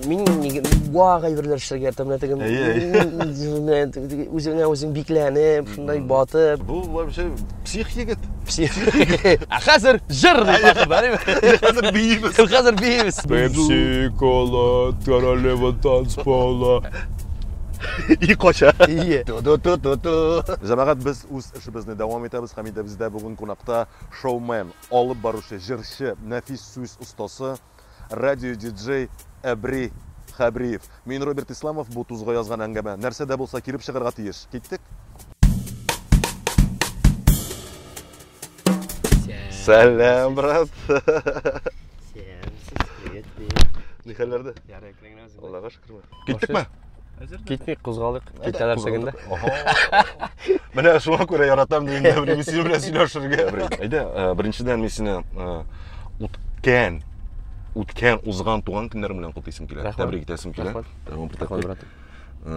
мин неге вага әйберләр эшләргә яратам менә теге үзеңә үзең бикләнеп шундай батып бу вообще псих егет псих а хәзер җыр хәзер биимез хәзер биимез пепси кола королева танцпола и кача җәмәгать без үз эшебезне дәвам итәбез һәм инде бездә бүген кунакта шоумен Алып баручы, җырчы, нәфис сүз остасы, радио-диджей Әбри Хәбриев. Мин, Роберт Исламов, бу тузга язган әңгәмә. Нәрсә дә булса килеп чыгарга тиеш. Киттек! Сәлам, брат! Сәлам, сәлам, привет, привет. Нихәлләрдә? Ярый, кирәгенә үзең. Аллага Киттек ме? Китмик, кузгалык. Китәләр сәгендә. Менә шуңа күрә яратам дигән дә бер миссия белән сөйләшергә. Әйдә, э, беренчедән мин сине э, үткән үткән узган туган көннәр белән котлыйсым килә. Тәбрик итәсем килә. Тәбрик итәсем килә. Э,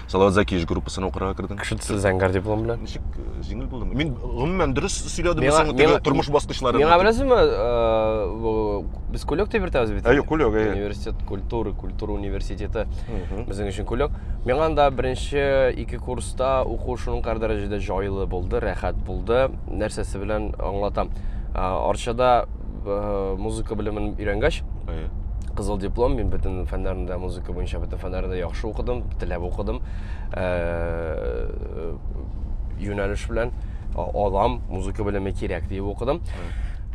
Салават Закиевич группасына укырга кердем. Кеше төсле зәңгәр диплом белән. Ничек э, җиңел булдымы? Мин гомумән дөрес сөйләдемме Миңа- соң теге миңа- тормыш баскычлары? Миңа беләсезме, э, бу- без кулек дип йөртәбез бит. Ә, юк, кулек, әйе. Университет культуры, культура университеты. Мгм. Безнең өчен кулек. Миңа анда беренче ике курста уку шуңкар дәрәҗәдә җайлы булды, рәхәт булды. Нәрсәсе белән аңлатам. Э, Арчада э, музыка белемен өйрәнгәч, кызыл диплом, мин бөтен фәннәрендә музыка буенча бөтен фәннәрендә яхшы укыдым, теләп укыдым. Э, юнәлеш белән алам, музыка белеме кирәк диеп укыдым.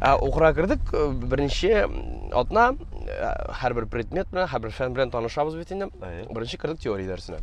Ә укыра кердек, э, беренче атна һәрбер предмет белән, һәрбер фән белән танышабыз бит инде. Беренче кердек теория дәресенә.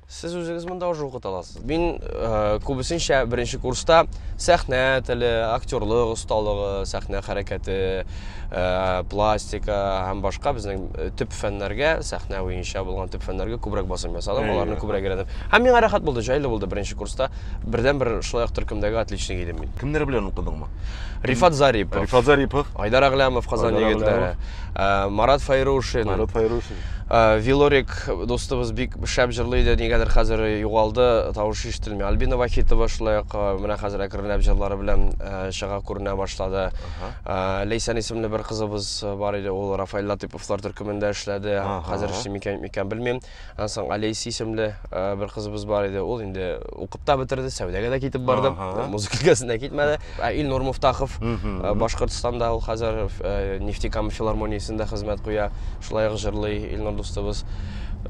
Сез үзегез монда уже укыта аласыз. Мин күбесенчә беренче курста сәхнә теле, актерлык осталыгы, сәхнә хәрәкәте, пластика һәм башка безнең төп фәннәргә, сәхнә буенча булган төп фәннәргә күбрәк басым ясадым, аларны күбрәк өйрәндем. Һәм миңа рәхәт булды, җайлы булды беренче курста. Бердәнбер шулай ук төркемдәге отличник идем мин. Кемнәр белән укыдыңмы? Рифат Зарипов. Рифат Зарипов. Айдар Аглямов Казан егетләре. Марат Файрушин. Марат Файрушин. Э, Вилорик дустыбыз бик шәп җырлый иде, нигәдер хәзер югалды, тавышы ишетелми. Альбина Вахитова шулай ук э, менә хәзер әкренләп җырлары белән э, чыга күренә башлады. Лейсан исемле бер кызыбыз бар иде, ул Рафаэль Латыповлар төркемендә эшләде. Хәзер эшли микән, микән белмим. Аннан соң Алейси исемле Ә, бер кызыбыз бар иде, ул инде укып та бетерде, сәүдәгә дә китеп барды. Ага. Музыка өлкәсенә китмәде. Ә Илнур Муфтахов Мгм. ә, Башкортстанда ул хәзер ә, Нефтекама филармониясендә хезмәт куя. Шулай ук җырлый Илнур дустыбыз.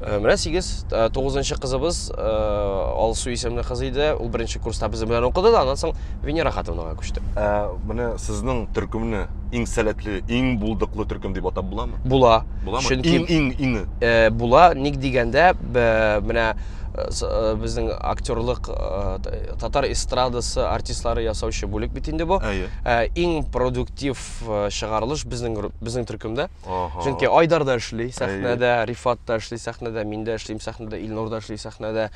Ә, Менә сигез, ә, тугызынчы кызыбыз ә, Алсу исемле кыз иде. Ул беренче курста безнең белән укыды да, аннан соң Венера Хатыновага күчте. Ә, менә сезнең төркемне иң сәләтле, иң булдыклы төркем дип атап буламы? Була. Буламы? Чөнки Иң иң иңе. ә, була, ник дигәндә, менә безнең актерлык татар эстрадасы артистлары ясаучы бүлек бит инде бу иң продуктив чыгарылыш безнең безнең төркемдә чөнки айдар да эшли сәхнәдә рифат та эшли сәхнәдә мин дә эшлим сәхнәдә илнур да эшли сәхнәдә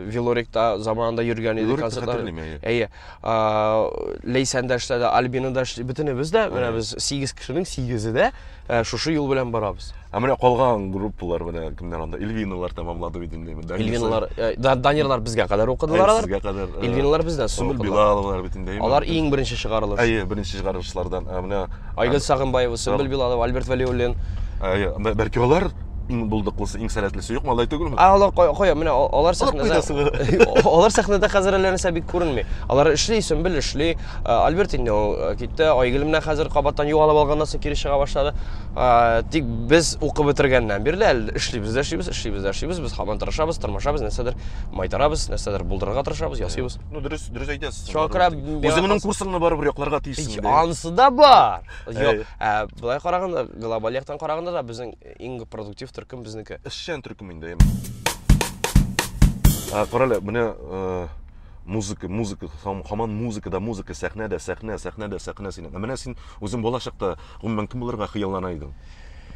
вилорик та заманында йөргән иде әйе Ләйсән дә эшләде, Альбина да эшләде. Бөтенебез дә, менә без 8 кешенең 8-е дә э, шушы юл белән барабыз. Ә менә калган группалар менә кемнәр анда? Эльвиналар тәмамлады бит инде. Эльвиналар, э, Данирлар безгә кадәр укыдылар алар. Сезгә кадәр. Э, Эльвиналар бездән соң. Сүмел Билаловлар бит инде. Алар иң беренче чыгарылыш. Әйе, беренче чыгарылышлардан. Ә менә Айгөл Сагынбаева, Сөмбел Билалова, Альберт Вәлиуллин. Ә, бәлки алар иң булдыклысы, иң сәләтлесе юк малай түгелме? Ә алар кая, кая? Менә алар сәхнәдә. Алар сәхнәдә хәзер әллә нәрсә бик күренми. Алар эшли, Сөмбел эшли. Альберт инде китте. Айгөл менә хәзер кабаттан югалып алганнан соң кире чыга башлады. Тик без укып бетергәннән бирле әле эшлибез дә эшлибез, эшлибез дә эшлибез. Без һаман тырышабыз, тырмашабыз, нәрсәдер майтарабыз, нәрсәдер булдырырга тырышабыз, ясыйбыз. Ну, дөрес, дөрес әйтәсез. Чакрап. Үзеңнең курсыңны барыбер якларга тиешсең. Ич, анысы да бар. Юк, ә былай караганда, глобаль яктан караганда да безнең иң продуктив төркем безнеке. Эшчән төркем инде. Ә карале, менә э, музыка, музыка, хаман музыка да музыка, сәхнә дә сәхнә, сәхнә дә сәхнә синең. Ә менә син үзең балачакта гомумән кем булырга хыяллана идең?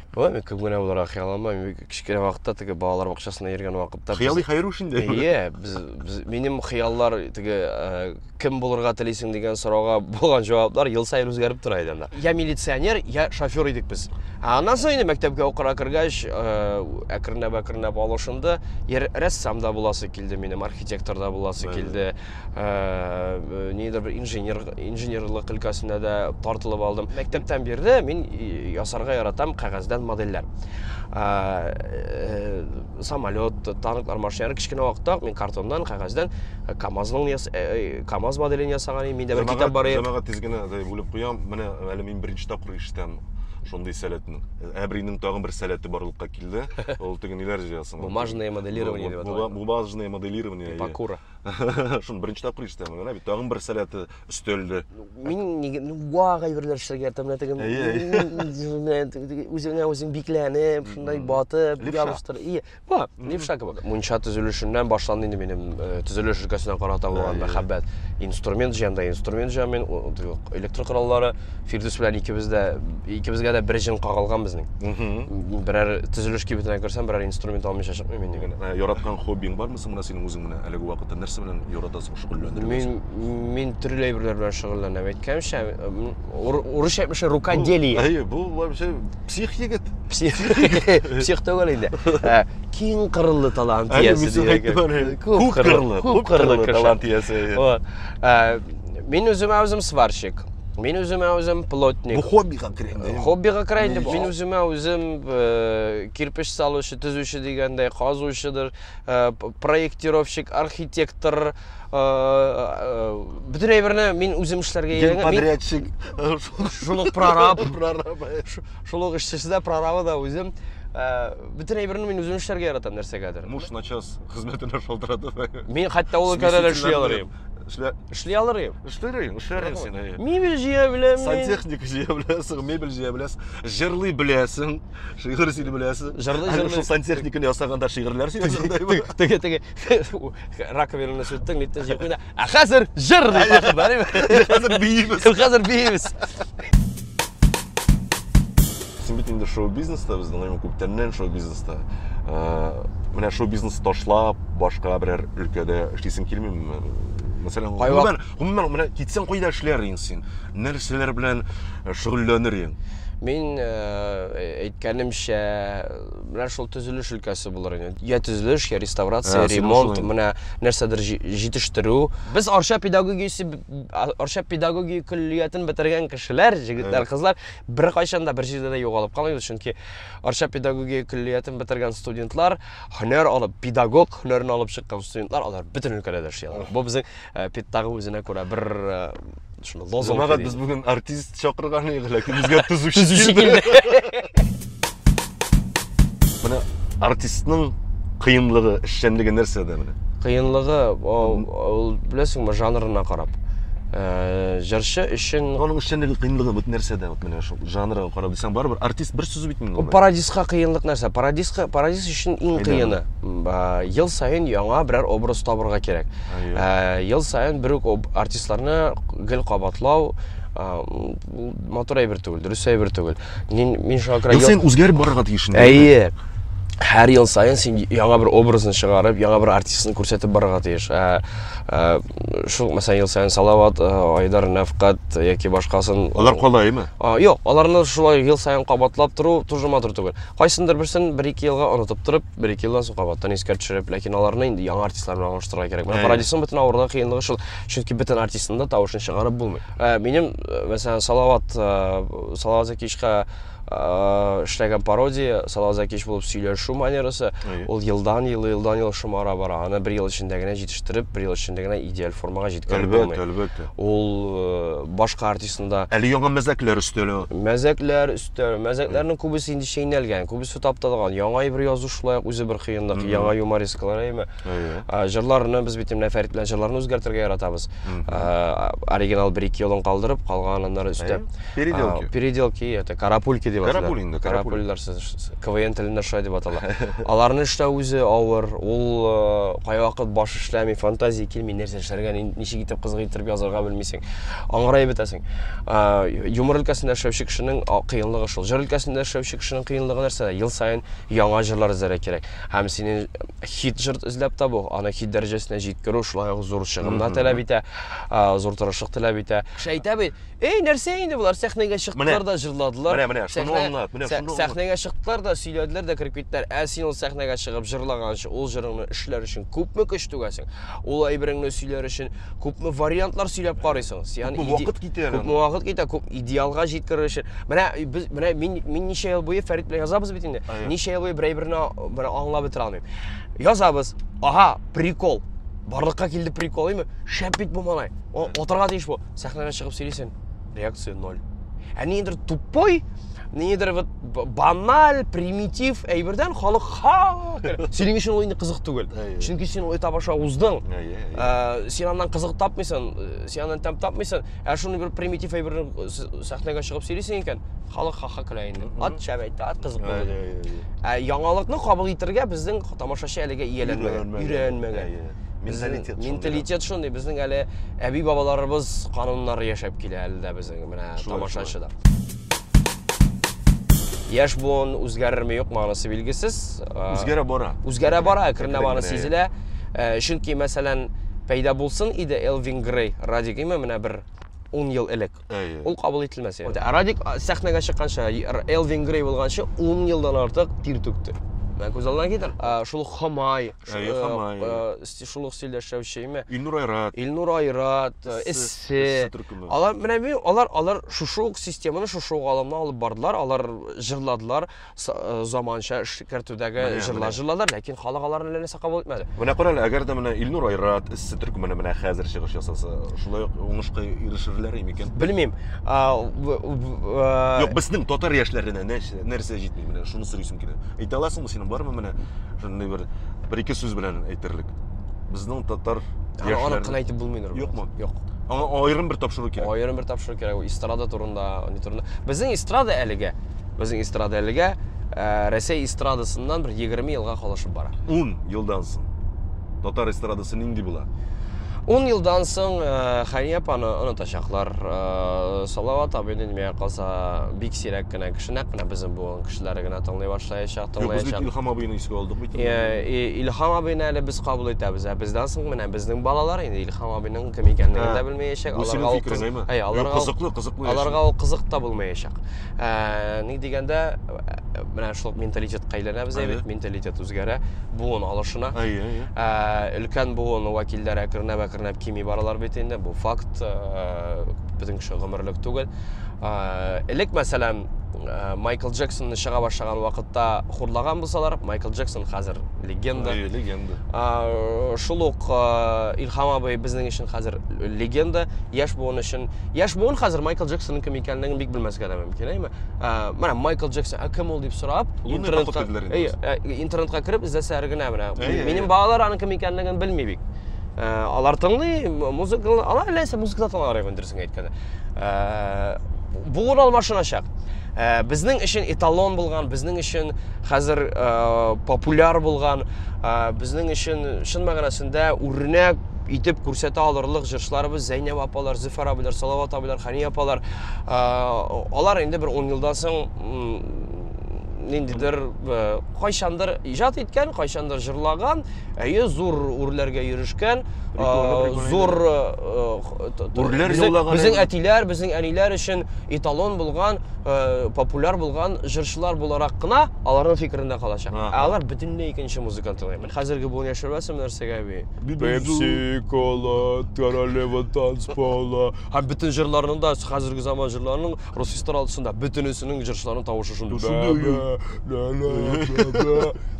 Болай мин күп генә булырга хыял алмаймын. Кечкенә вакытта теге балалар бакчасына йөргән вакытта. Хыялый хәер уш инде. Ие, без, без минем хыяллар теге э, кем булырга телисең дигән сорауга булган җаваплар ел саен үзгәреп тора иде анда. Я милиционер, я шофер идек без. Ә аннан соң инде мәктәпкә укырга кергәч, э, әкренләп әкренләп алышынды. Ер рәссам да буласы килде минем, архитектор да буласы килде. нидер бер инженер инженерлык өлкәсенә дә тартылып алдым мәктәптән бирле мин ясарга яратам кәгазьдән модельләр э, самолет танклар машиналар кечкенә вакытта мин картоннан кәгазьдән э, камазның э, э, камаз моделен ясаган идем миндә бер китап бар иде җәмәгать тиз генә бүлеп куям менә әле мин беренче тапкыр ишетәм шундый сәләтнең әбринең тагын бер сәләте барлыкка килде ул теге ниләр җыясың бумажное моделирование дип атала бумажное моделирование пакура Шуны беренче тапкыр ишетәм генә бит. Тагын бер сәләте өстәлде. Мин нигә ну ваг әйберләр эшләргә яратам, менә теге Әйе, әйе. менә теге үзеңә үзең бикләнеп, шундай батып, Левша. ябыштыр. И, ба, левша кебек. Мунча төзелешеннән башланды инде минем э, төзелеш өлкәсенә карата булган Әйе. мәхәббәт. Инструмент җыям да инструмент җыям мин, у- теге электр кораллары. Фирдүс белән икебез дә икебезгә дә бер җен кагылган безнең. Мгм. Берәр төзелеш кибетенә керсәм, берәр инструмент алмыйча чыкмыйм мин. Яраткан хоббиң бармы? Соң менә синең үзең менә әлеге вакытта нәрсә белән яратасың шөгыльләнергә? Мин мин төрле әйберләр белән шөгыльләнәм. Әйткәнчә, урысча әйтмешә рукоделие. Әйе, бу вообще псих егет. Псих. Псих түгел инде. Ә, киң кырлы талант иясе дигән. Күп кырлы, күп кырлы талант иясе. Вот. Ә, мин үземә үзем сварщик. Мин үземә үзем плотник. Бу хоббига керә инде. Хоббига керә инде. Мин үземә үзем э, кирпич салучы, төзүче дигәндәй, казучыдыр. Э, проектировщик архитектор э, э, бөтен әйберне мин үзем эшләргә өйрәнгән подрядчик шул ук прораб шул ук эшчесе дә прорабы да үзем бөтен әйберне мин үзем эшләргә яратам нәрсәгәдер муж начос хезмәтенә шалтыратып мин хәтта ул өлкәдә дә эшли алыр идем Эшлә... Эшли алыр идем. Эшләр идем, эшләр идем син. Мебель җыя беләм. Сантехник җыя беләсең, мебель җыя беләсең, җырлый беләсең. Шигырь син беләсең. Җырлый җырлый. Шул сантехниканы ясаганда шигырьләр сөйләсәң дә бу. Теге теге раковинаны сүттең, ниттең җыеп куйда. Ә хәзер җыр дип башып барыйм. Хәзер биимез. Хәзер биимез. Син бит инде шоу-бизнеста безнең гыйлем күптәннән шоу-бизнеста. Э, менә шоу-бизнес ташлап, башка берәр өлкәдә эшлисең килмиме? Мәсәлән, гомумән, гомумән менә китсәң кайда эшләр инде син? Нәрсәләр белән шөгыльләнер идең? Мин э, әйткәнемчә, менә шул төзелеш өлкәсе булыр инде. Я төзелеш, я реставрация, ә, ремонт, менә нәрсәдер җитештерү. Без Арча педагогиясе Арча педагогия көллиятен бетергән кешеләр, җегетләр, кызлар бер кайчан да бер җирдә дә югалып калмыйбыз, чөнки Арча педагогия көллиятен бетергән студентлар, һөнәр алып, педагог һөнәрен алып чыккан студентлар, алар бөтен өлкәдә дә эшли алар. Бу безнең Ә, Пит тагы үзенә күрә бер э, шуны лозунг Җомага йөри. без бүген артист чакырган идек, ләкин безгә төзүче Төзүче килде. Менә артистның кыенлыгы, эшчәнлеге нәрсәдә менә? Кыенлыгы ул, ул беләсеңме жанрына карап. Э, Җырчы өчен Аның эшчәнлеге, кыенлыгы вот нәрсәдә? Вот менә шул жанрга карап дисәң, барыбер артист бер сүз бит инде. ул ул. пародистка кыенлык нәрсә? Пародистка пародист өчен иң Әйдә. кыены ба, ел саен яңа берәр образ табырга кирәк. Ә, ел саен бер үк артистларны гел кабатлау матур әйбер түгел, дөрес әйбер түгел. Мин мин шуңа күрә ел саен үзгәреп барырга тиеш. Әйе. Һәр ел саен син яңа бер образны чыгарып, яңа бер артистны күрсәтеп барырга тиеш. Ә, ә шул мәсәлән ел саен Салават, Айдар, Нәфкат яки башкасын. Алар калаймы? А, юк, аларны шулай ел саен кабатлап тору тоже матур түгел. Кайсындыр берсен бер ике елга онытып торып, бер-ике елдан соң кабаттан искә төшереп, ләкин аларны инде яңа артистлар белән алыштырырга кирәк. Менә Парадисның бөтен авырлыгы, кыенлыгы шул. Чөнки бөтен артистны да тавышын чыгарып булмый. Ә, минем, э, мәсәлән, Салават, э, Салават Закишка э, эшләгән пародия, Салават Закиш булып сөйләшү манерасы, Әйе. ул елдан ел, елдан ел шомара бара. Аны бер ел эчендә генә җитештереп, бер ел эчендә генә идеаль формага җиткереп Әлбәттә, булмый. әлбәттә. Ул э, башка артистны да Әле яңа мәзәкләр өстәле. мәзәкләр өстәл, мәзәкләрнең күбесе инде чәйнәлгән, күбесе итеп тапталган. Яңа әйбер язу шулай ук үзе бер кыенлык, mm -hmm. яңа юмористкалар әйме. Әйе. Җырларны без бит менә Фәрит белән җырларны үзгәртергә яратабыз. Mm -hmm. Оригинал бер ике елын калдырып, калган аннары өстә. Переделки. Переделки, это карапульки дип аталар. Карапуль инде, карапульлар сез КВН телендә шулай дип атала. Аларны эшләү үзе авыр. Ул э, кайвакыт баш эшләми, фантазия килми, нәрсә эшләргә, ничек итеп кызык итеп язарга белмисең. Аңгырай бетәсең. Юмор өлкәсендә эшләүче кешенең кыенлыгы шул. Җыр өлкәсендә эшләүче Кешенең кыенлыгы нәрсәдә? Ел саен яңа җырлар эзләргә кирәк. Һәм синең хит җыр эзләп табу, аны хит дәрәҗәсенә җиткерү шулай ук зур чыгымнар таләп итә, зур тырышлык таләп итә. Кеше әйтә бит, Эй, нәрсә инде болар, сәхнәгә чыктылар да җырладылар. Менә, менә, шуны аңлат, менә шуны аңлат. Сәхнәгә чыктылар да, сөйләделәр дә кереп киттеләр. Ә син ул сәхнәгә чыгып җырлаганчы, ул җырыңны эшләр өчен күпме көч түгәсең? Ул әйбереңне сөйләр өчен күпме вариантлар сөйләп карыйсыңыз. Ягъни күпме вакыт китә? Күпме вакыт китә? Күп идеалга җиткерер өчен. Менә без менә мин мин ничә ел буе Фәрит белән язабыз бит инде. Ничә ел буе берәй берне бер аңлап бетә алмыйм. Язабыз. Ага, прикол. Барлыкка килде прикол, имме? Шәп бит бу малай. Атырга тиеш бу. Сәхнәгә чыгып сөйлисен. реакции ноль. Ә ниндидер тупой, ниндидер вот баналь, примитив әйбердән халык ха! Синең өчен ул инде кызык түгел. Чөнки син ул этап аша уздың. Ә, син аннан кызык тапмыйсың, э, син аннан тәм тапмыйсың. Ә шуны бер примитив әйберне э, сәхнәгә чыгып сөйлисең икән, халык ха-ха көлә инде. Ат шәп әйтте, ат кызык булды. Ә яңалыкны кабул итәргә безнең тамашачы әлегә ияләнмәгән, өйрәнмәгән. менталитет менталитет шундый безнең әле әби бабаларыбыз кануннары яшәп килә әле дә безнең менә тамашачыда яшь буын үзгәрерме юкмы анысы билгесез үзгәрә бара үзгәрә бара әкренләп бара сизелә э, чөнки мәсәлән пәйда булсын иде элвин грей радик име менә бер 10 ел элек Әйе. Ул кабул ителмәс иде. Ә Радик сәхнәгә чыкканча, Элвин Грей булганча 10 елдан артык тир түкте. Менә күз алдына китер. Шул Хамай, Әйе, Хамай. Шул ук стильдә эшләүчеме? Илнур Айрат. Илнур Айрат, Эссе. Алар менә алар алар шушы ук системаны шушы ук алымны алып бардылар, алар җырладылар. заманча эшкәртүдәге җырлар җырладылар, ләкин халык аларны ләнәсә кабул итмәде. Менә кара әле, әгәр дә менә Илнур Айрат эссе төркеменә менә хәзер чыгыш ясаса, шулай ук уңышка ирешерләр микән? Белмим. Юк, безнең татар яшьләренә нәрсә җитми менә, шуны сорыйсым килә. Әйтә аласыңмы синең бармы менә шундый бер бер ике сүз белән әйтерлек? Безнең татар яшьләре. Аны кына әйтеп булмый Нур. Юкмы? Юк. Аңа аерым бер тапшыру кирәк. Аерым бер тапшыру кирәк. Эстрада турында, не турында. Безнең эстрада әлегә Безнең эстрада әлегә э, Рәсәй эстрадасыннан бер 20 елга калышып бара. 10 елдан соң татар эстрадасы нинди була? 10 елдан соң э, Хания апаны онытачаклар. Э, Салават абый дөнья калса бик сирәк кенә кеше, нәкъ менә безнең буын кешеләре генә тыңлый башлаячак, Юк, без бит тыңлаячак. Илһам абыйны искә алдык бит. Э, И- Илһам абыйны әле без кабул итәбез, ә бездән соң менә безнең балалар инде Илһам абыйның кем икәнлеген Ә, дә белмәячәк. бу синең ул фикерең, кыз- әйме? Әйе, Юк, аларга ул- кызыклы, кызыклы яши. Аларга ул кызык та булмаячак. ә, ник дигәндә менә шул менталитетка әйләнәбез әйе бит менталитет үзгәрә буын алышына әйе әйе ә, өлкән буын вәкилләре әкренләп әкренләп кими баралар бит инде бу факт ә, безнең кеше гомерлек түгел ә, элек мәсәлән ә, майкл джексонны чыга башлаган вакытта хурлаган булсалар майкл джексон хәзер легенда әйе легенда ә, шул ук ә, илһам абый безнең өчен хәзер легенда яшь буын өчен яшь буын хәзер майкл джексонның кем икәнлеген бик белмәскә дә мөмкин әйме ә, менә майкл джексон ә кем ул дип сорап интернетка интернетка кереп эзләсәләр генә менә минем балалар аның кем икәнлеген белми бик ә, алар тыңлый музыка алар ләйсә музыкада тыңларга мөмкин дөресен әйткәндә ә, буын алмашыначак ә, безнең өчен эталон булган безнең өчен хәзер ә, популяр булган ә, безнең өчен чын мәгънәсендә үрнәк итеп күрсәтә алырлык җырчыларыбыз Зәйнәб апалар, Зөфәр абыйлар, Салават абыйлар, Хәни апалар. Алар инде бер 10 елдан соң ниндидер кайчандыр иҗат иткән, кайчандыр җырлаган, әйе, зур үрләргә йөрешкән, зур үрләр җырлаган. Безнең әтиләр, безнең әниләр өчен эталон булган, популяр булган җырчылар буларак кына аларның фикерендә калачак. Ә алар бөтенләй икенче музыканы тыңлый. Хәзерге буын яшермәсем нәрсәгә би? Пепси, кола, королева танц пола. Һәм бөтен җырларның да, хәзерге заман җырларының рус эстрадасында бөтенесенең җырчыларының тавышы шундый. Шундый.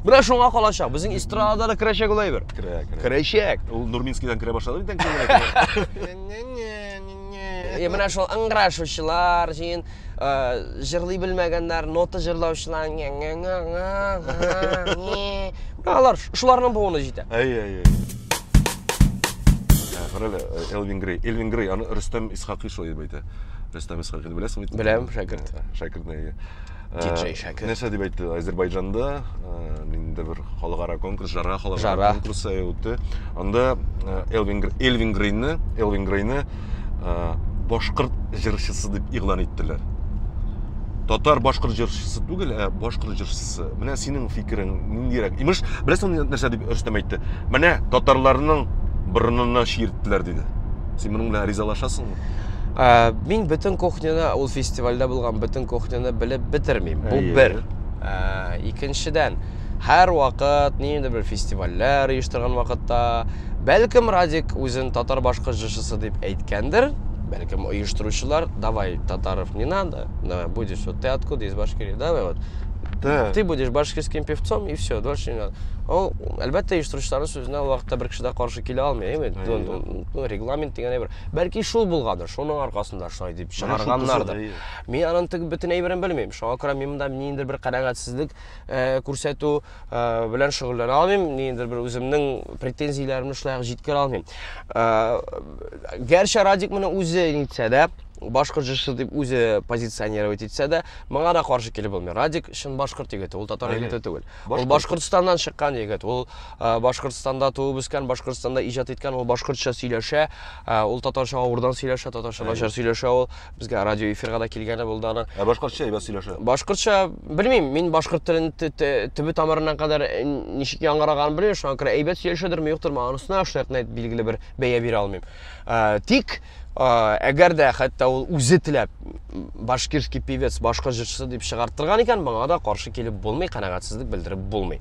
Менә шуңа калачак. Безнең эстрадада да керәчәк ул әйбер. Керә, керә. Керәчәк. Ул Нурминскийдан керә башлады бит әнкәйләр. Э, менә шул ыңгырашучылар җыен э, җырлый белмәгәннәр нота җырлаучылар алар шуларның буыны җитә әйе әйе ә, карале э, элвин грей элвин грей аны рөстәм исхакый шулай дип әйтә рөстәм исхакыйны беләсеңме беләм шәкерт шәкертне әйе диджей шәкер нәрсә дип әйтте әзербайҗанда ниндидер бер халыкара конкурс жара халыкара конкурсы үтте анда элвин элвин грейнны элвин грейнны башкорт җырчысы дип игълан иттеләр татар башкорт җырчысы түгел ә башкорт җырчысы менә синең фикерең ниндирәк имеш беләсеңме нәрсә дип рөстәм әйтте менә татарларның борынына чиерттеләр диде син моның белән ризалашасыңмы мин бөтен кухняны ул фестивальдә булган бөтен кухняны белеп бетермим бу бер икенчедән һәр вакыт ниндидер бер фестивальләр оештырган вакытта бәлкем радик үзен татар башкы җырчысы дип әйткәндер бәлкем оештыручылар давай татаров не надо давай будешь вот ты откуда из башкирии давай вот да. ты будешь башкирским певцом и все дольше не надо ул әлбәттә оештыручыларның сүзенә ул вакытта бер кеше дә каршы килә алмый ну регламент дигән әйбер Бәлки шул булгандыр, шуның аркасында шулай дип чыгарганнардыр. Мин аның теге бөтен әйберен белмим. Шуңа күрә мин монда ниндидер бер канәгатьсезлек э, күрсәтү э, белән шөгыльләнә алмыйм, ниндидер бер үземнең претензияләремне шулай җиткерә алмыйм. Э, гәрчә Радик моны үзе нитсә дә, башкорт җырчысы дип үзе позиционировать итсә дә, моңа да каршы килеп булмый. Радик чын башкорт егете, ул татар егете түгел. Ул Башкортстаннан чыккан егет. Ул Башкортстанда туып үскән, Башкортстанда иҗат иткән, ул башкортча сөйләшә, ул татарча авырдан сөйләшә, татарча начар сөйләшә ул. Безгә радио эфирга да килгәне булды аны. Ә башкортча әйбәт сөйләшә. Башкортча, белмим, мин башкорт телен төбе тамырыннан кадәр э, ничек яңгыраган белмим, шуңа күрә әйбәт сөйләшәдерме, юктырмы, анысына шулай билгеле бер бәя бирә алмыйм. Тик Әгәр дә хәтта ул үзе теләп башкирский певец, башкорт җырчысы дип чыгарттырган икән, моңа да каршы килеп булмый, канәгатьсезлек белдереп булмый.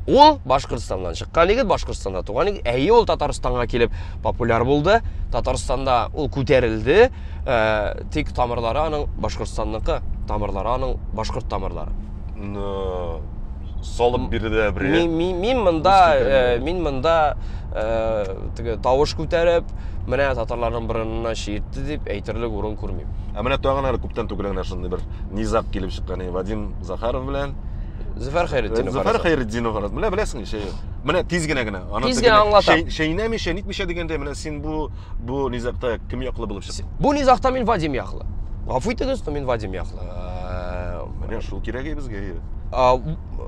Ул Башкортстаннан чыккан егет, Башкортстанда туган егет. Әйе, ул Татарстанга килеп популяр булды. Татарстанда ул күтәрелде. Ә, тик тамырлары аның Башкортстанныкы, тамырлары аның башкорт тамырлары. Но салып бирде бер мин, мин, мин монда э, мин монда э, теге тавыш күтәреп менә татарларның борынына чиертте дип әйтерлек урын күрмим ә менә тагын әле күптән түгел генә шундый бер низаг килеп чыккан вадим захаров белән Зөфәр Хәйретдинов. Зөфәр Хәйретдинов арасы. Менә беләсең ничә ел. Менә тиз генә генә. Аны тиз генә аңлатам. Шәйнәми, шәйнитмичә дигәндә, менә син бу бу низагта кем яклы булып чыкты? Бу низагта мин Вадим яклы. Гафу итегез, но мин Вадим яклы. Э, Менә шул кирәк и безгә.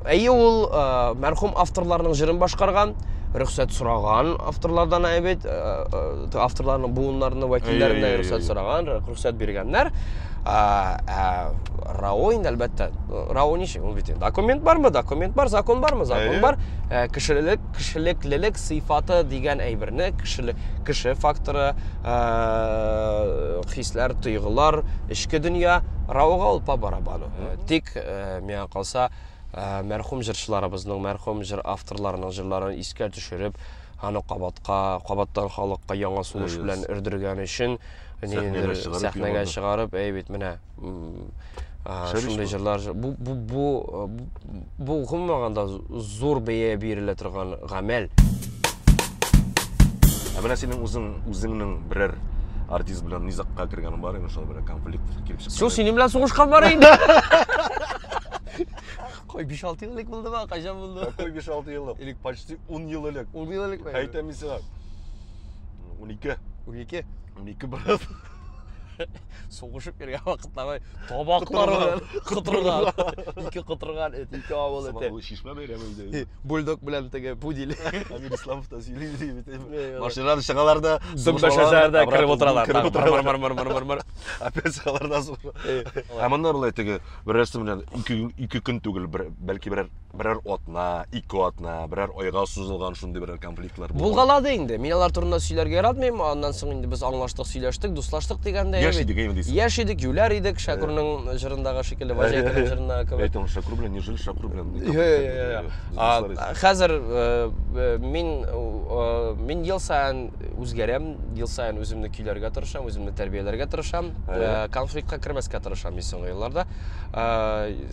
Әйе, ул э, мәрхүм авторларның җырын башкарган, рөхсәт сораган авторлардан әйбит, э, авторларның буыннарының вәкилләреннән рөхсәт сораган, рөхсәт биргәннәр. Рао инде әлбәттә. Рао ничек? Ул бит документ бармы? Документ бар, закон бармы? Закон бар. Кешелек кешелеклелек сыйфаты дигән әйберне кешеле, кеше факторы ә, хисләр тойгылар эчке дөнья рауга ул по барабану тик ә, миңа калса ә, мәрхүм җырчыларыбызның мәрхүм җыр авторларының җырларын искә төшереп аны кабатка кабаттан халыкка яңа сулыш белән өрдергән өчен сәхнәгә чыгарып әй бит менә шундый җырлар бу бу бу бу гомумән да зур бәя бирелә торган гамәл ә менә синең үзең үзеңнең берәр артист белән низакка кергән бар инде шул бер конфликт килеп чыкты син синең белән сугышкан бар инде Кой, 5-6 еллык булды ба? Кайчан булды? Кой 5-6 еллык. Элек почти 10 ел элек. 10 ел элек. Әйтәм мин сиңа. 12. 12. 12 брат. соғышып йөргән вакытларда табаклар белән котырган ике котырган эт ике авыл эте ул чишмә бәйрәме иде бульдог белән теге пудель әмир исламов та сөйли бит машинадан чыгалар да дөмбәшәләр дә кереп утыралар кереп утыралар опять чыгалар да ә монда болай теге берәрсе белән ике көн түгел бәлки берәр берәр атна, ике атна, берәр айга сузылган шундый берәр конфликтлар булган. Булгалады инде. Мин алар турында сөйләргә яратмыйм. Аннан соң инде без аңлаштык, сөйләштек, дуслаштык дигәндә. Яшь идек, әйме дисең. Яшь идек, юләр идек, Шакурның җырындагы шикелле, Ваҗайканың җырындагы кебек. Әйтәм, Шакур белән нежели Шакур белән. Хәзер мин мин ел саен үзгәрәм, ел саен үземне көйләргә тырышам, үземне тәрбияләргә тырышам, конфликтка кермәскә тырышам мин соңгы елларда.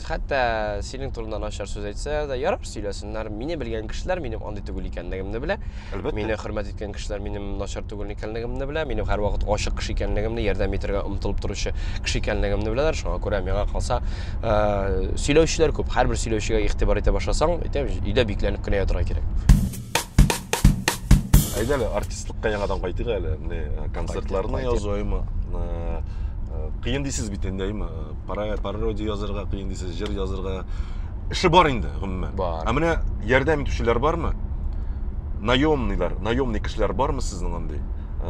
Хәтта синең турында начар сүз әйтсә дә, ярар сөйләсеннәр. Мине белгән кешеләр минем андый түгел икәнлегемне белә. Әлбәттә. Мине хөрмәт иткән кешеләр минем начар түгел икәнлегемне белә. Минем һәрвакыт ачык кеше икәнлегемне, ярдәм итәргә омтылып торучы кеше икәнлегемне беләләр. Шуңа күрә миңа калса, э, сөйләүчеләр күп. Һәрбер сөйләүчегә игътибар итә башласаң, әйтәм, өйдә бикләнеп кенә ятырга кирәк. Әйдә әле артистлыкка яңадан кайтыйк әле. Менә э, концертларны язуым э, э, кыен дисез бит инде, әйме? Пародия язырга кыен дисез, җыр язырга эше бар инде, гомумән. Бар. Ә менә ярдәм итүчеләр бармы? Наемныйлар, наемный кешеләр бармы сезнең андый?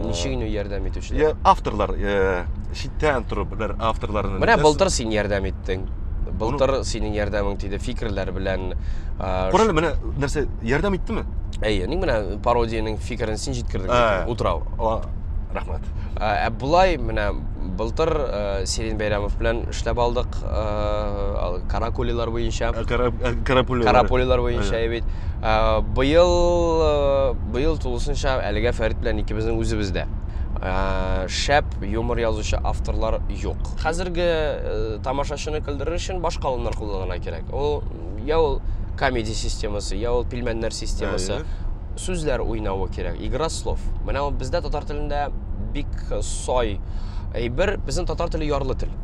Ничек инде ярдәм итүчеләр? Авторлар, э, читтән торып, бер авторларны. Менә былтыр син ярдәм иттең. Былтыр синең ярдәмең тиде фикерләр белән. Күрәле, менә нәрсә ярдәм иттеме? Әйе, ник менә пародиянең фикерен син җиткердең. Ә. Утрау. Рәхмәт. Ә булай менә былтыр э, Сирин Бәйрәмов белән эшләп алдык э, каракулилар буенча. Э, карапулилар. Карапулилар буенча бит. Быел Быел тулысынча әлегә Фәрит белән икебезнең үзебездә. Ә, шәп юмор язучы авторлар юк. Хәзерге э, тамашачыны көлдерер өчен башка алымнар кулланырга кирәк. Ул я ул комеди системасы, я ул пилмәннәр системасы. Әйе. Сүзләр уйнавы кирәк, игра слов. Менә ул бездә татар телендә бик сай әйбер, безнең татар теле ярлы тел.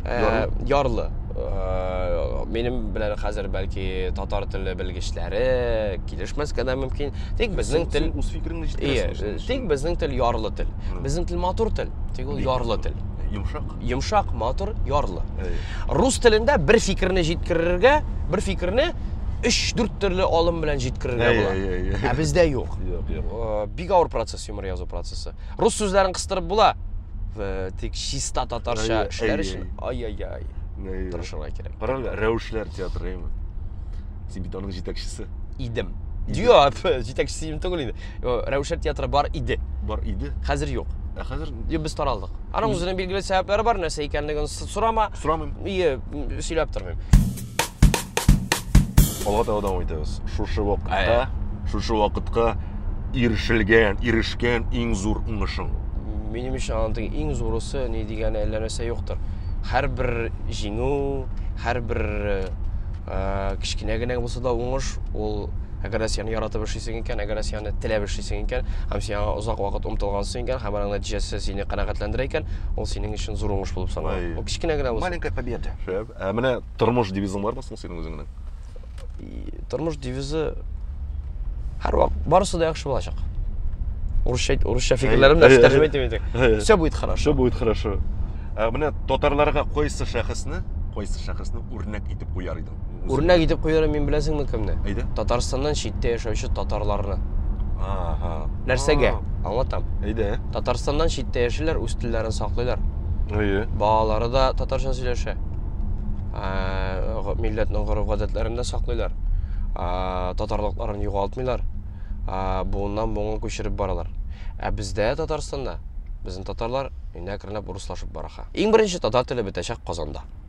Ә, Ярлы. ярлы. Ә, минем белән хәзер бәлки татар теле белгечләре килешмәскә дә мөмкин. Тик безнең тел үз фикереңне җиткерәсең. Тик безнең тел ярлы тел. Безнең тел матур тел. Тик ул ярлы тел. Йомшак. Йомшак, матур, ярлы. Рус телендә бер фикерне җиткерергә, бер фикерне 3-4 төрле алым белән җиткерергә була. Ә бездә юк. Юк, юк. Э, бик авыр процесс юмор язу процессы. Рус сүзләрен кыстырып була, э, тик чиста татарча эшләр өчен ай-яй-яй. Тырышырга кирәк. Карале, рәвешләр театры, әйме? Син бит аның җитәкчесе. Идем. Юк, җитәкчесе идем түгел инде. Рәүшәт театры бар иде. Бар иде. Хәзер юк. Ә хәзер Юк, без таралдык. Аның үзенең билгеле сәбәпләре бар, нәрсә икәнлеген с- сорама. сорамыйм. Ие, м, сөйләп тормыйм. Алга таба дәвам итәбез. Шушы Әйе. вакытта, шушы вакытка ирешелгән, ирешкән иң зур уңышың. Минем өчен аның иң зурысы ни дигәне әллә нәрсә юктыр. Һәрбер җиңү, һәрбер э, Ә, кечкенә генә булса да уңыш, ул әгәр дә сине яратып эшлисең икән, әгәр дә сине теләп эшлисең икән, һәм син аңа озак вакыт омтылгансың икән, һәм аның нәтиҗәсе сине канәгатьләндерә икән, ул синең өчен зур уңыш булып санала. Ой. Ул кечкенә генә булса. Маленькая победа. Шәп. Ә менә тормыш девизың бармы соң синең үзеңнең? И, Тормыш девизы һәрвак барысы да яхшы булачак. Урысча әйт- урысча фикерләрем дә әй, тәрҗемә әй. итеп инде. Әй. Все будет хорошо. Все будет хорошо. Ә менә татарларга кайсы шәхесне, кайсы шәхесне үрнәк итеп куяр идең? Үрнәк итеп куяр мин беләсеңме кемне? Әйдә. Татарстаннан читтә яшәүче татарларны. Ага. Нәрсәгә? Аңлатам. Әйдә. Татарстаннан читтә яшиләр, үз телләрен саклыйлар. Әйе. Балалары да татарча сөйләшә. Милләтнең гореф-гадәтләрен дә саклыйлар. Татарлыкларын югалтмыйлар. Буыннан буынга күчереп баралар. Ә бездә Татарстанда Безнең татарлар инәкренләп урыслашып бара. Иң беренче татар теле бетәчәк Казанда.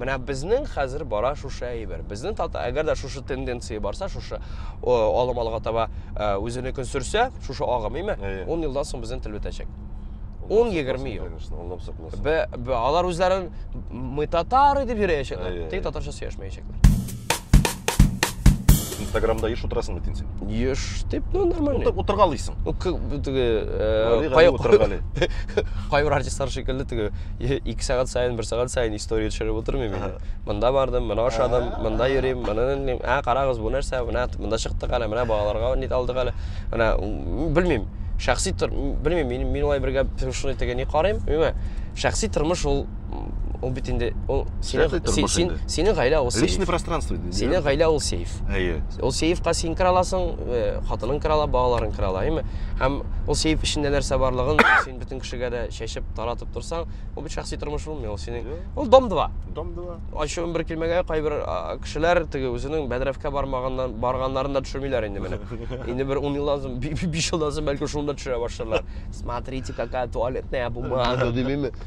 Менә безнең хәзер бара шушы әйбер. Безнең тата, әгәр дә шушы тенденция барса, шушы алым алга таба үзене көн сөрсә, шушы агым, име? 10 елдан соң безнең тел бетәчәк. 10-20 ел. Бе, бе, алар үзләрен мы татары дип йөрәячәкләр. Тик татарча сөйләшмәячәкләр. инстаграмда еш утырасың бит инде син еш дип ну нормально Утыр, утырга алыйсың ну теге кайбер артистлар шикелле теге ике сәгать сайын бер сәгать сайын история төшереп утырмыйм инде мында бардым мына ашадым мында йөрим мына ә карагыз бу нәрсә менә мында чыктык әле менә балаларга нит алдык әле менә белмим шәхси тор белмим мин мин алай бергә шуны теге ни карыйм шәхси тормыш ул ул бит инде ул синең синең гаилә ул сейф. Личный пространство. Синең гаилә ул сейф. Әйе. Ул сейфка син кера аласың, э, хатының кера ала, балаларың кера ала, әйме? Һәм ул сейф эчендә нәрсә барлыгын син бөтен кешегә дә чәчеп, таратып торсаң, ул бит шәхси тормыш булмый, ул синең. Ул дом 2. Дом 2. Ачуым бер килмәгә кайбер кешеләр теге үзенең бәдрәфкә бармаганнан барганнарын да төшермиләр инде менә. Инде бер 10 елдан соң, 5 елдан соң бәлки шуны да төшерә башларлар. Смотрите, какая туалетная бумага, димиме?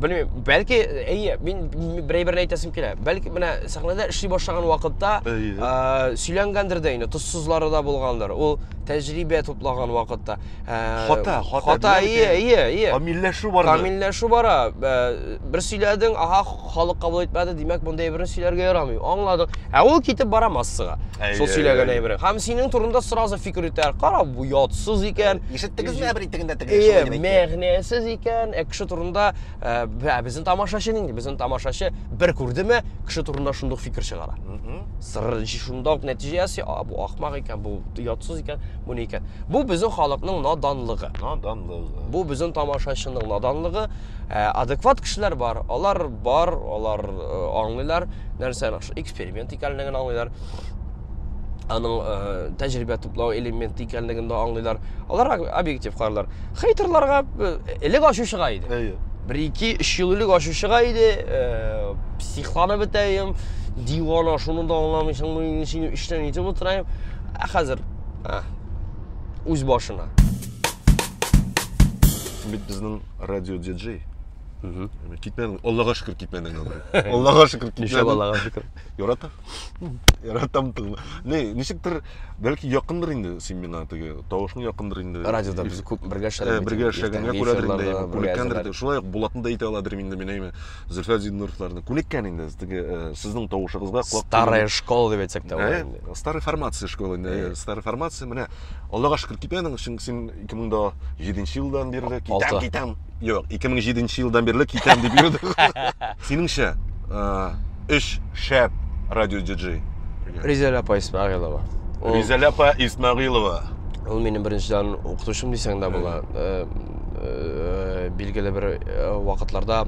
белмим бәлки әйе мин берәй берне әйтәсем килә бәлки менә сәхнәдә эшли башлаган вакытта ә, сөйләнгәндер дә инде тоссызлары да булгандыр ул тәҗрибә туплаган вакытта ә, хата хата хата әйе әйе әйе камилләшү бара камилләшү бара ә, бер сөйләдең ага халык кабул итмәде димәк мондый әйберне сөйләргә ярамый аңладың ә ул китеп бара массага шул сөйләгән әйберең һәм синең турында сразу фикер йөртәләр кара бу ятсыз икән Ишеттегезме әбер итегендә теге шулай Әйе, дип әйтте? мәгънәсез икән. Ә кеше турында ә, бә- безнең тамашачы нинди? Безнең тамашачы бер күрдеме, кеше турында шундук фикер чыгара. Мгм. Сыр шунда ук нәтиҗә ясый, а, бу ахмак икән, бу ятсыз икән, бу ни икән. Бу безнең халыкның наданлыгы. Наданлыгы. Бу безнең тамашачының наданлыгы. Ә, адекват кешеләр бар, алар бар, алар э, аңлыйлар нәрсә эксперимент икәнлеген аңлыйлар. аның ә, тәҗрибә туплау элементы икәнлеген дә аңлыйлар. Алар объектив карыйлар. Хейтерларга элек ачучыга иде. Әйе. Бер ике, өч ел элек ачучыга иде, ә, психланып бетәем, дивана, шуны да аңламыйсыңмы, мин сине өчтән итеп утырайым. Ә хәзер ә, үз башына. Бит безнең радио диджей. Китмәдең. Аллага шөкер китмәдең. Аллага шөкер китмәдең. Иншалла, Аллага шөкер. Ярата. Яратам тыңны. Не, ничектер, бәлки якындыр инде син миңа теге тавышың якындыр инде. Радиода без күп бергә эшләдек. Э, бергә эшләгәнгә күрәдер инде, әйме, күнеккәндер инде. Шулай ук Булатны да әйтә аладыр инде мин, әйме, Зөлфәт Зиннуровларны. Күнеккән инде теге э, сезнең тавышыгызга колак. Старая школа дип әйтсәк тә була э, инде. Старая формация школа инде. Э. Старая формация. Менә Аллага шөкер китәнең, чөнки син 2007 елдан бирле китәм, китәм. Юк, 2007 елдан бирле китәм дип йөрдем. Синеңчә, өч шәп радио диджей. Ризәлә апа Исмәгыйлова. Ризәлә апа Исмәгыйлова. Ул минем беренчедән укытучым дисәң дә була. Билгеле бер вакытларда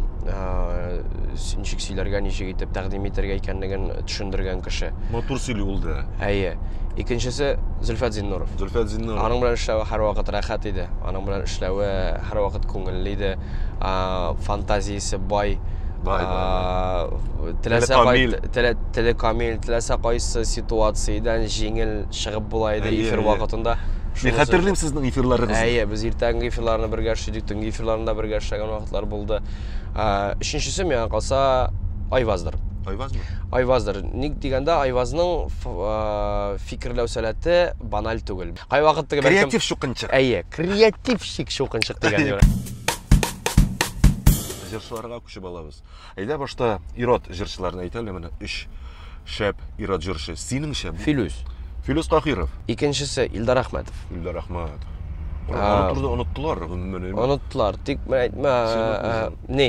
ничек сөйләргә, ничек итеп тәкъдим итәргә икәнлеген төшендергән кеше. Матур сөйли ул да. Әйе. Икенчесе Зөлфәт Зиннуров. Зөлфәт Зиннуров. Аның белән эшләве һәрвакыт рәхәт иде. Аның белән эшләве Һәрвакыт күңелле иде, фантазиясе бай, теләсә теле камил, теләсә кайсы ситуациядән җиңел чыгып була иде эфир вакытында. Мин хәтерлим сезнең эфирларыгызны. Әйе, без иртәнге эфирларны бергә эшләдек, төнге эфирларны да бергә эшләгән вакытлар булды. Өченчесе миңа калса Айваздыр. Айвазмы? Айваздыр. Ник дигәндә, Айвазның фикерләү сәләте баналь түгел. Кайвакыт теге креатив шукынчык. Әйе, креатив Чик чукынчык дигән юк. Җырчыларга күчеп алабыз. Әйдә башта ирод җырчыларны әйтәле менә өч шәп ирод җырчы. Синеңчә Филүс. Филүс Таһиров. Икенчесе Илдар Әхмәтов. Илдар Әхмәтов. Аны турыда оныттылар гомумән. Оныттылар, тик мен әйтмә. Э, э, ни?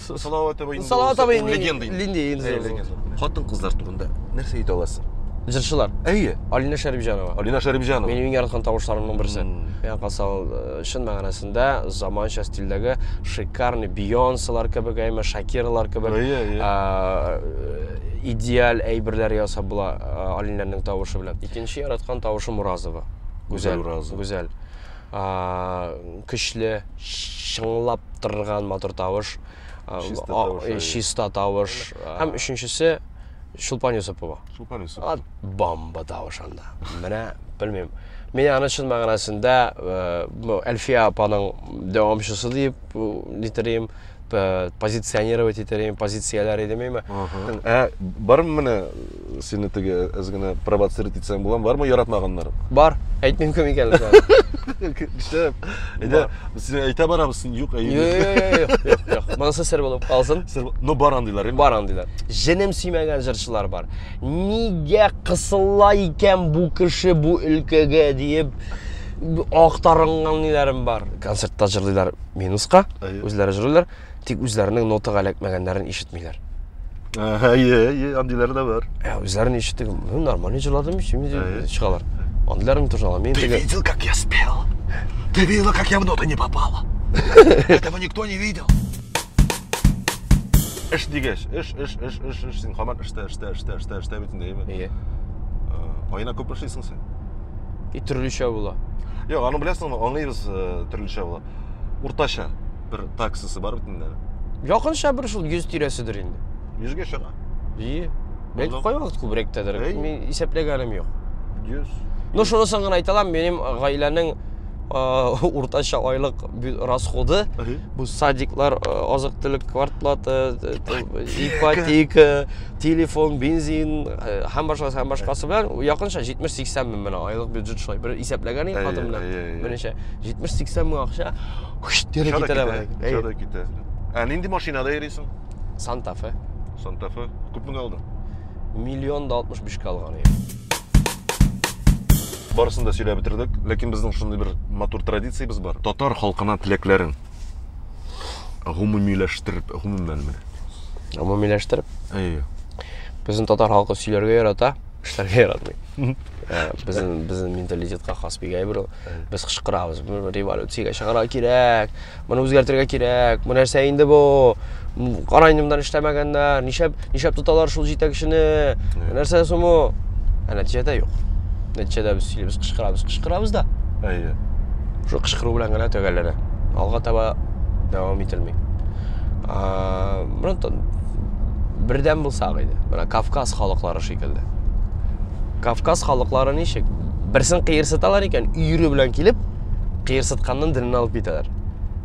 Салават абый инде. Салават абый инде легенда инде. Легенда инде. Хатын кызлар турында нәрсә әйтә аласың? Җырчылар. Әйе. Алина Шәрипҗанова. Алина Шәрипҗанова. Минем иң яраткан тавышларымның берсе. Миңа калса ул э, чын мәгънәсендә заманча стильдәге шикарный Бейонселар кебек, әйме Шакирлар кебек. Әйе, әйе. Э, идеаль әйберләр ясап була э, Алинәнең тавышы белән. Икенче яраткан тавышы Муразова. Гүзәл Уразова. Гүзәл. көчле, чыңлап торган матур тавыш, чиста тавыш. Һәм өченчесе Чулпан Юсупова. Чулпан Юсупова. Бомба тавыш анда. Менә белмим. Мин аны чын мәгънәсендә Әлфия апаның дәвамчысы дип нитрим. э, позиционировать итәр идем, позицияләр идем име. Ә бармы менә сине теге әз генә провоцировать итсәң буламы? Бармы яратмаганнар? Бар, әйтмим кем икәнлеген. Кеше, әйдә, сине әйтә барабыз, син юк, әйе. Юк, юк, юк, юк, юк. Монысы сер булып калсын. Ну бар андыйлар. Бар андыйлар. Җенем сөймәгән җырчылар бар. Нигә кысыла икән бу кеше бу өлкәгә диеп актарынган ниләрем бар. Концертта җырлыйлар. минуска, әйе. үзләре җырлыйлар, тик үзләренең нотага эләкмәгәннәрен ишетмиләр. Әйе, әйе, андыйлар да бар. Ә үзләрен ишетеп, ну нормально җырладым, чими чыгалар. Андыйлар мин тоже Мин Ты видел, как я спел? Ты видела, как я в ноту не попала? Этого никто не видел. Эш дигәч, эш, эш, эш, эш, эш, син хаман эштә, эштә, эштә, эштә, эштә бит инде, әйеме? Әйе. Айына күп эшлисең син? И төрлечә була. Юк, аны беләсеңме, аңлыйбыз э, төрлечә була. Уртача бер таксасы бар бит инде. Якынча бер шул 100 тирәседер инде. 100гә чыга. И. Бәлки Булдым. кай вакыт күбрәктәдер. Әй. Мин исәпләгәнем юк. 100. Ну, шунысын гына әйтә алам, минем гаиләнең а, уртача айлык бю- расходы Әһи. бу садиклар, а, азык-төлек квартплата, э, т- ипотека, телефон, бензин һәм башкасы һәм башкасы белән якынча 70-80 мең менә айлык бюджет шулай бер исәпләгән идек хатын белән. Беренче 70-80 мең акча кире китә. Шода китә. Ә нинди машинада йөрисең? Santa Fe. Santa Fe. Күп мең алдың? Миллион да 65 кә алган идем. Барысын да сөйләп бетердек, ләкин безнең шундый бер матур традициябез бар. Татар халкына теләкләрең. гомумиләштереп, гомумән бер. Гомумиләштереп? Әйе. Безнең татар халкы сөйләргә ярата, эшләргә яратмый. Э, безнең безнең менталитетка хас бик әйбер ул. Без кычкырабыз, революциягә чыгарга кирәк, моны үзгәртергә кирәк, бу нәрсә инде бу? Карайнымдан эшләмәгәннәр, нишәп, нишәп тоталар шул җитәкчене, нәрсә соң бу? Ә нәтиҗәдә юк. Нәтиҗәдә без сөйлибез, кычкырабыз, кычкырабыз да. Әйе. Шул кычкыру белән генә төгәлләнә. Алга таба дәвам ителми. А, Бронтон бердәм булсак иде. Менә Кавказ халыклары шикелле. Кавказ халыклары ничек? Берсен кыерсыталар икән, өере белән килеп, кыерсытканнан денен алып китәләр.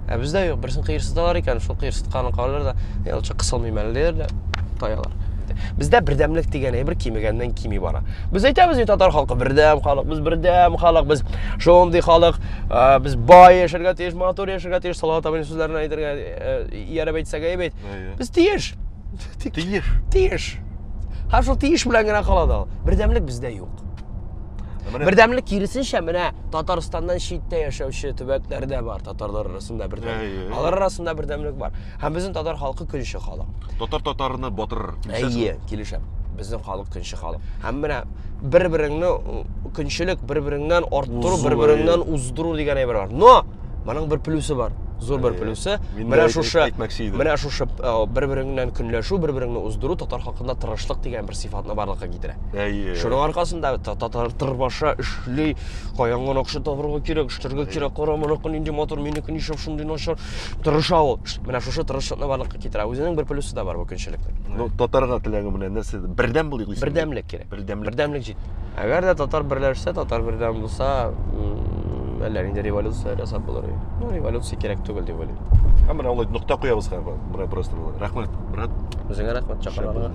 ә бездә юк берсен кыерсыталар икән шул кыерсытканын калдыралар да ул чак кысылмыйм әле диләр дә таялар бездә бердәмлек дигән әйбер кимегәннән кими бара без әйтәбез бит татар халкы бердәм халык без бердәм халык без шундый халык ә, без бай яшәргә тиеш матур яшәргә тиеш салават абыйның сүзләрен әйтергә ияреп әйтсәк әйбәт без тиеш тиеш тиеш һәм шул тиеш белән генә кала да ул бердәмлек бездә юк Бердәмлек киресенчә менә Татарстаннан читтә яшәүче төбәкләр дә бар, татарлар арасында бердәмлек. Алар арасында бердәмлек бар. Һәм безнең татар халкы көнче халык. Татар татарны батырыр. Әйе, килешәм. Безнең халык көнче халык. Һәм менә бер-береңне көнчелек, бер-береңнән арттыру, бер-береңнән уздыру дигән әйбер бар. Но Моның бер плюсы бар. Зур бер плюсы. Менә шушы менә шушы бер-береңнән көнләшү, бер-береңне уздыру татар хакында тырышлык дигән бер сыйфатны барлыкка китерә. Әйе. Шуның аркасында татар тырбаша эшли, каяннан акча табырга кирәк, эшләргә кирәк, кара моныкы нинди матур, минеке ничек шундый начар. Тырыша ул. Менә шушы тырышлыкны барлыкка китерә. Үзенең бер плюсы да бар бу көнчелекнең. Ну, татарга теләге менә нәрсә? Бердәм булыйк. Бердәмлек кирәк. Бердәмлек. Бердәмлек җит. Әгәр дә татар берләшсә, татар бердәм булса, әллә нинди революция ясап булыр. Ну, революция кирәк түгел дип уйлыйм. Һәм менә алай нокта куябыз хәзер. Менә просто булды. Рәхмәт, брат. Үзеңә рәхмәт чакырганга.